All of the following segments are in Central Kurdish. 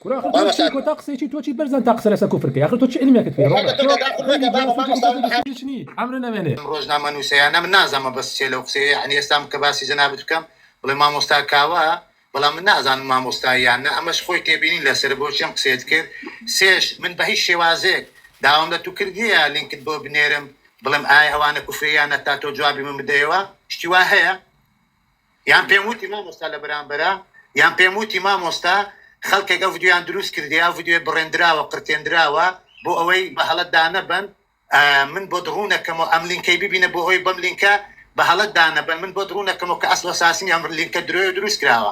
کورە ئاخر تۆ چی کۆتا قسەی چی تۆ چی بەرزان تا قسە لەسە کوفر کەی ئاخر تۆ چ علمێکت پێ ڕۆنە تۆ خوێندی زانستی و تۆ بەس بەسوودی چ نی عەمرن ئەمێنێ. ئەم ڕۆژنامە نووسەیانە من نازانمە بەس چیە لەو قسەیە یەعنی ئێستام کە باسی جەنابت بکەم بڵێ مامۆستا کاوە بەڵام من نازانم مامۆستای یان نە ئەمەش خۆی تێبینی لەسەرە بۆچی ئەم قسەیەت کرد سێش من بەهیچ شێوازێک داوام لە تو کردیە لینکت بۆ بنێرم بڵێم ئایا ئەوانە کوفریە یان نە تا تۆ جوابی من بدەیەوە شتی وا هەیە یان پێم وتی مامۆستا لە بەرامبەرا یان پێم وتی مامۆستا خەڵکێک ئەو ڤیدیۆیان دروست کردی ئەو ڤیدیۆی بڕێندراوە قرتێندراوە بۆ ئەوەی بە هەڵە دانەبەن من بۆت ڕوونەکەمەوە ئەم لینکەی ببینە بۆ ئەوەی بەم لینکە بە هەڵە دانەبەن من بۆت ڕوونەکەمەوە کە ئەسڵ ئەساسنی ئەم لینکە درۆیە و دروست کراوە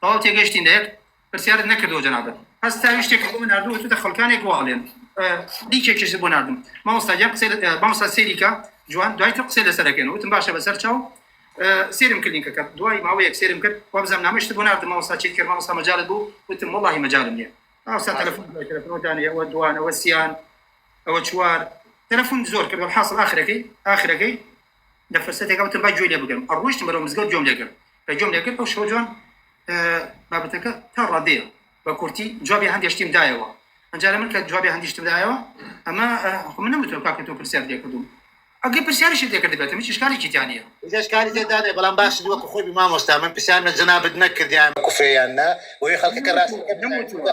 تەواو تێگەشتین لە یەک پرسیارت نەکردەوە جەنابت هەست تا ویشتێک بۆ من ناردووە چونتە خەڵکانێک واڵێن لیکێکیش بۆ ناردم مامۆستا گیان قسەی لە- مامۆستا سێریکە جوان دوای تر قسەی لەسەر دەکەین وتم باشە بەسەر چاو سێرم کلینکە کرد دوای ماوەیەک سێرم کرد وابزانام نامەشت بۆ ناردم مامۆستا چیت کرد مامۆستا مەجالت بوو وتم وەڵاهی مەجالم نییە مامۆستا تەلەفۆن دوای تەلەفۆن دانێ ئەوە دوان ئەوە سیان ئەوە چوار تەلەفۆن زۆر کرد حاصل ئاخرەکەی ئاخرەکەی لە فرسەتێکا وتم با گوێی لێ بگرم، ڕۆیشتم بەرەو مزگەوت گوێم لێ گرت، کە گوێم لێ گرت ئەو شەوە جوان بابەتەکە تا ڕادەیە بە کورتی جوابی هەندێ شتیم دایەوە، ئەنجا لە من کە جوابی هەندی شتم دایەوە ئەمە خۆ من نەمتوێ کاکە تۆ پرسیارت لێ کردووم، ئەگەر پرسیاریشت لێ کردبێتم هیچ ئیشکالێکی تیا نییە. ئیتر ئیشکالی تێدا نییە، بەڵام باشت وەکوو خۆی بی مامۆستا، من پرسیارم لە جەنابت نەکردیان کفرە یان نا، بۆیە خەڵکەکە ڕاست دەکەن. نەموتووە.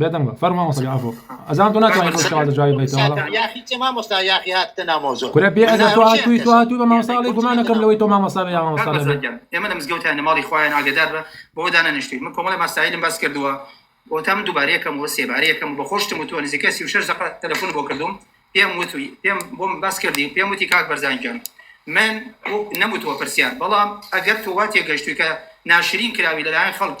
بێدەنگ بە فەرموو مامۆستا گیان عەفۆ ئەزان تۆ ناتوانیت بەو شێوازە جوابی بدەیتەوە وەڵا ساکە یاخی چ مامۆستا یاخی هاتتە ناو مەوزوع کورە بێ ئەدەب تۆ هاتووی تۆ هاتووی بە مامۆستا ئەڵێی گومان نەکەم لەوەی تۆ مامۆستا بێ یا کاک مامۆستا بەرزان نەبێ گیان ئێمە لە مزگەوتیان لە ماڵی خوایان ئاگەدار بە بەوە دانەنیشتووین من کۆمەڵێ ماسایلم باس کردووە بۆ تا من دووبارە یەکەم و سێبارە یەکەم و بە خۆشتم وتووە نزیکەی سی و شەش دەقە تەلەفون بۆ کردووم پێم وتووی پێم بۆم باس کردی و پێم وتی کاک بەرزان گیان من وەک نەموتووە پرسیار بەڵام ئەگەر تۆ وا تێگەشتووی کە ناشرین کراوی لەلایەن خەڵک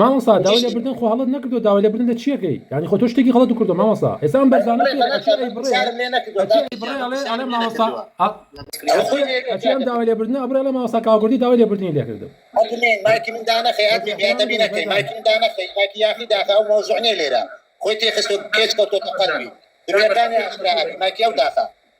مامۆستا داوای لێ بردن خۆ هەڵت نەکردو داوای لێ بردن لە چیە کەی یانی خۆ تۆ شتێکی غەڵەت کردو مامۆستا ئێستا ئەم بەرزانە داوای لێ بردن ئەبرێ لە مامۆستا کاکوردی داوای لێ بردنی لێ کردم خۆی تێخست پێچ کەوتۆتە قەرمی درۆیەکانی ئاشکرا ئەکەی مایکی ئەو داخە